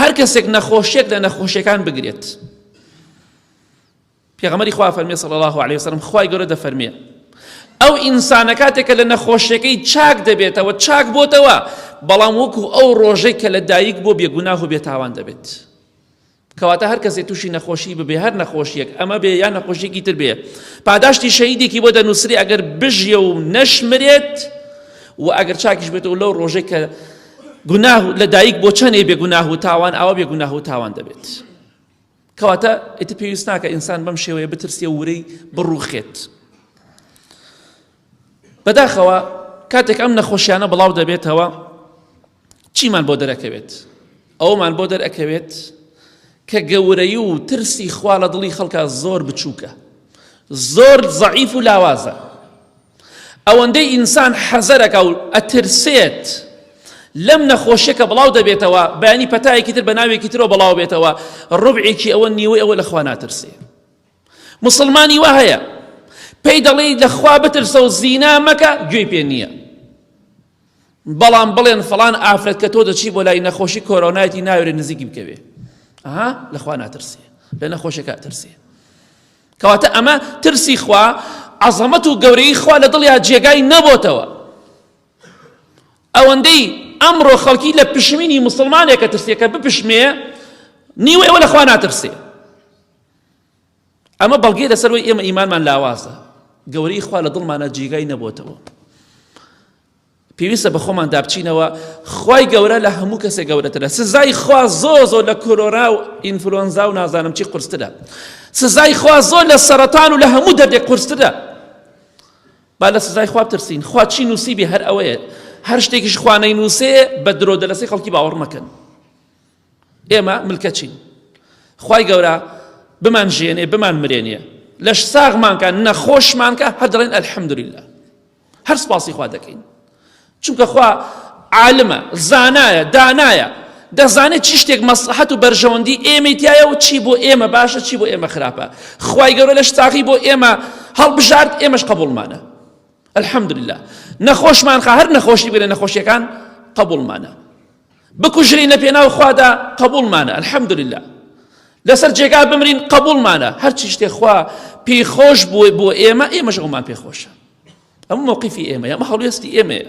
هەر کەسێک نەخۆشیەک لە نەخۆشیەکان بگرێت پێغەمەری خوا فەرمی صلی الله عليه وسلم خوای گەورە دەفەرمێ ئەو ئینسانە کاتێکە لە نەخۆشیەکەی چاک دەبێتەوە چاک بۆتەوە بەڵام وەکو ئەو ڕۆژەی کە لە دایک بۆ بێگوناه و بێتاوان دەبێت کەواتە هەر کەسێک تووشی نەخۆشی ببێ هەر نەخۆشیەک ئەمە بێ یان نەخۆشیێکی تر بێ پاداشتی شەیدێکی بۆ دەنووسری ئەگەر بژیە و نەشمرێت و ئەگەر چاکیش بێتەوە لەو ڕۆژێک کە گوناه لە دایک بۆ چەنێ بێ گوناه و تاوان ئاوا بێ گوناه و تاوان دەبێت کەواتە ئیتر پێویست ناکە ئینسان بەم شێوەیە بترسێ ورەی بڕوخێت بەداخەوە کاتێک ئەم نەخۆشیانە بڵاو دەبێتەوە چیمان بۆ دەرەکەوێت ئەومان بۆ دەرەکەوێت کە گەورەی و ترسی خوا لە دڵی خەڵکە زۆر بچووکە زۆر زەعیف و لاوازە ئەوەندەی ئینسان حەزەرەکا و ئەترسێت لەم نەخۆشیە کە بڵاو دەبێتەوە بەیانی پەتایەکی تر بە ناوێکی ترەوە بڵاو بێتەوە ڕبعێکی ئەوە نیوەی ئەوە لەخوا ناترسێ مسلمانی وا هەیە پێی دەڵێی لەخوا بترسە و زینا مەکە گوێی پێ نییە بەڵام بڵێن فڵان ئافرەت کە تۆ دەچی بۆ لای نەخۆشی کۆرۆنایەتی ناوێرێ نزیکی بکەوێ ئەها لەخوا ناترسێ لە نەخۆشەکە ترسێ کەواتە ئەمە ترسی خوا عەزەمەت و گەورەی خوا لە دڵیا جێگای نەبۆتەوە ئەوەندەی ئەمڕۆ خەڵکی لە پشمینی مسلمانێکە ترسێکە بپشمێ نیوەەوە لەخوا ناترسێ ئەمە بەڵگەی لەسەر وەی ئێمە ئیمانمان لاوازە گەورەی خوا لە دڵمانە جێگای نەبووتەوە پێویستە بە خۆمان دابچینەوە خی گەورە لە هەموو کەسێ گەورەترە سزای خوا زۆ زۆر لە کۆرۆرا و ئینفلۆنزا و نازانم چی قرسترە سزای خوا زۆر لە سەرەتان و لە هەموو دەردێک قرسترە با لە سزای خواب ترسین خوا چی نووسیبی هەر ئەوەیە هەر شتێکیش خوانەی نووسێ بە درۆ دەلەسەی خەڵکی باوەڕ مەکەن ئێمە ملکەچین خوای گەورە بمان ژێنێ بمان مرێنێ لەش ساغمانکە نەخۆشمانکە هەر دەڵێن ئەلحەمدللا هەر سپاسی خوا دەکەین چونکە خوا عالمە زانایە دانایە دەزانێت چی شتێک مەسلحەت و بەرژەوەندی ئێمەی تایە و چی بۆ ئێمە باشە چی بۆ ئێمە خراپە خی گەورە لەش تاقی بۆ ئێمە هەڵبژارد ئێمەش قبولمانە الحمدلله نەخۆشمان خە هەر نەخۆشی بێنە نەخۆشیەکان قبولمانە بکوژرین لە پێناو خوادا قبوڵمانە الحمدللە لەسەر جێگا بمرین قبوڵمانە هەرچی شتێ خوا پێی خۆش بووە بۆ ئێمە ئێمەش ئەومان پێخۆشە ئەم مووقیفی ئێمە ئەمە هەڵوێستی ئێمەیە